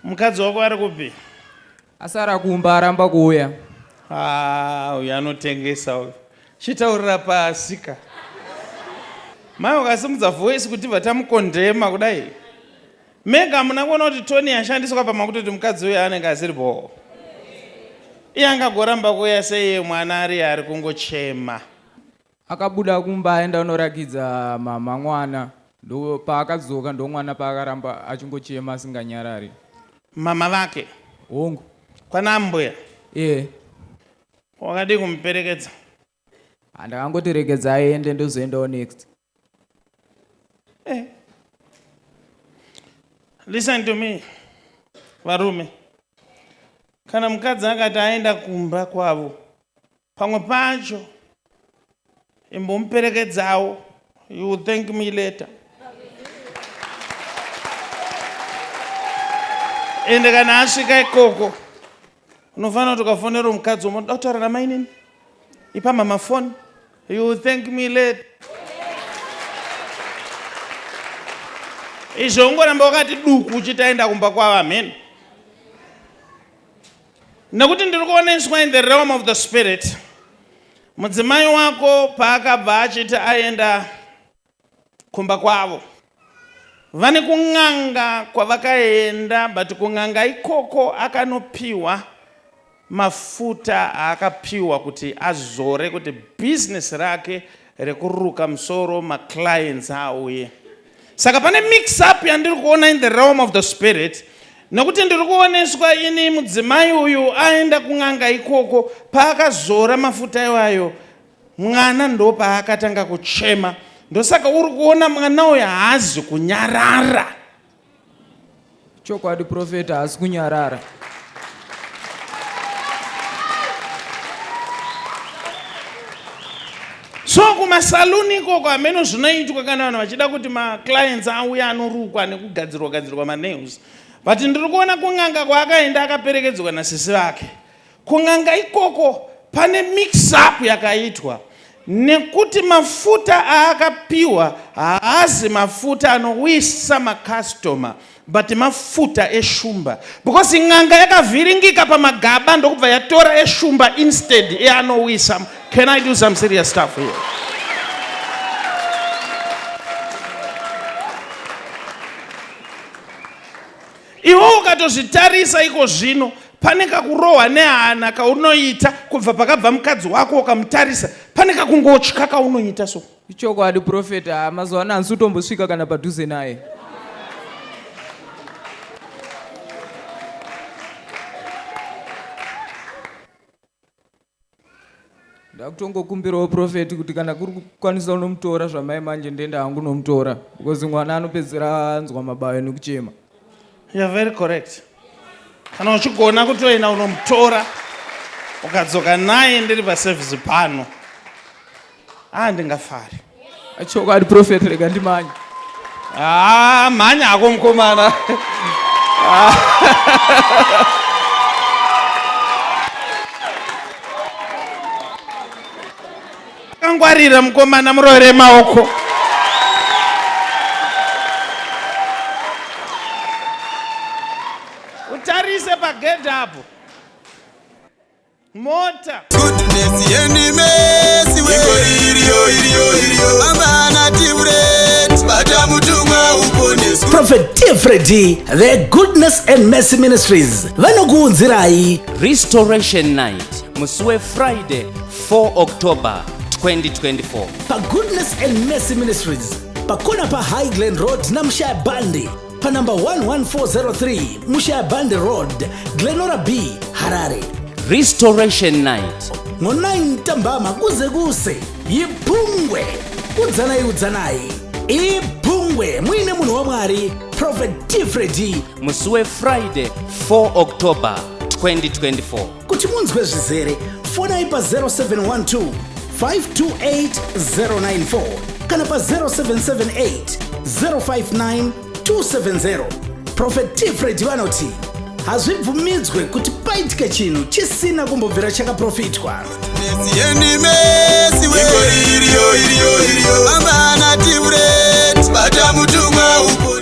Mukadzi wako ari kupi? Asara kumba aramba kuuya. Ah, uyu anotengesa uyu. Chitaurira pasi ka. Mai ukasimudza voice kuti bva tamukondema kudai. Mega hamuna kuona kuti toni yashandiswa pamakutoti mukadzi uyu anenge asiri bhoo. Iye angagoramba kuuya sei mwana ari ari kungochema. Akabuda kumba aenda kunorakidza mhamha mwana ndopaakadzoka ndomwana paakaramba achingochema asinganyarari. Mhamha vake. Hongu. Kwana ambuya. Ehe. Wakadii kumuperekedza? Ah ndakangoti regedza aende ndozoendawo next. Eh. Listen to me varume. Kana mukadzi akati aenda kumba kwavo Pamwe pacho imbomuperekedzawo you will thank me later. Ende kana asvika ikoko unofanira kuti ukafonera mukadzi womo ndoda kutaura namainini ipa mama foni you will thank me later. Izvo ungoramba wakati duku uchitaenda kumba kwava mheni. Nekuti ndiri kuoneswa in the realm of the spirit mudzimai wako paakabva achiti aenda kumba kwavo vane kun'anga kwavakaenda but kun'anga ikoko akanopiwa mafuta aakapiwa kuti azore kuti business rake rekuruka musoro maclients auye saka pane mix up yandiri kuona in the realm of the spirit nekuti ndiri kuoneswa ini mudzimai uyu aenda kun'anga ikoko paakazora mafuta iwayo mwana ndo paakatanga kuchema ndosaka uri kuona mwana uyu haazi kunyarara Chokwadi profeta haasi kunyarara. so kumasaluni ikoko hameno zvinoitwa kana vanhu vachida kuti maclients auye anorukwa nekugadzirwa gadzirwa manails but ndiri kuona kun'anga kwaakaenda akaperekedzwa nasisi vake Kun'anga ikoko pane mix up yakaitwa nekuti mafuta aakapiwa haazi mafuta anowisa macustomer but mafuta eshumba because n'anga yakavhiringika pamagaba ndokubva yatora eshumba instead eanowisa. Can I do some serious stuff here? Iwe ukatozvitarisa iko zvino, pane kakurohwa nehana kaunoita kubva pakabva mukadzi wako ukamutarisa, pane kakungotya kaunoita so. Ichokwadi prophet haa mazuva ano handisi kutombosvika kana padhuze naye. ndakutongokumbirawo prophet kuti kana kuri kukwanisa unomutora zvamai manje ndenda hangu nomutora because mwana anopedzera anzwa mabayo nekuchema you're very correct kana uchigona kutoenda unomutora ukadzoka naye ndiri paservice pano ah ndingafari Chokwadi prophet rega ndimanye. Ah, mhanya hako mkomana. Akangwarira mkomana muroere maoko. Utarise pagedhi apo. mota goodness yenimesi we iriyo iriyo iriyo amana timret bata mutumwa uponeswe prophet tfredi the goodness and mercy ministries vanokuunzirai restoration night musi wefriday 4 october 2024 pagoodness and mercy ministries pakona pahighland road namushaya bandi panumber 11403 mushayaband road glenora b harare restoration night ngo-9 tambama kuze kuse yibhungwe udzanai udzanai ibhungwe muine munhu wamwari prophet tifredi musi wefriday 4 october 2024 Kuti munzwe zvizere, fonai pa 0712 528094 kana pa 0778 059 270. Prophet T. Fred vanoti hazvibvumidzwe kuti paitike chinhu chisina kumbobvira chakaprofitwa. Yeni mesi we Iko iriyo iriyo iriyo Amana tiure Bata mutumwa uko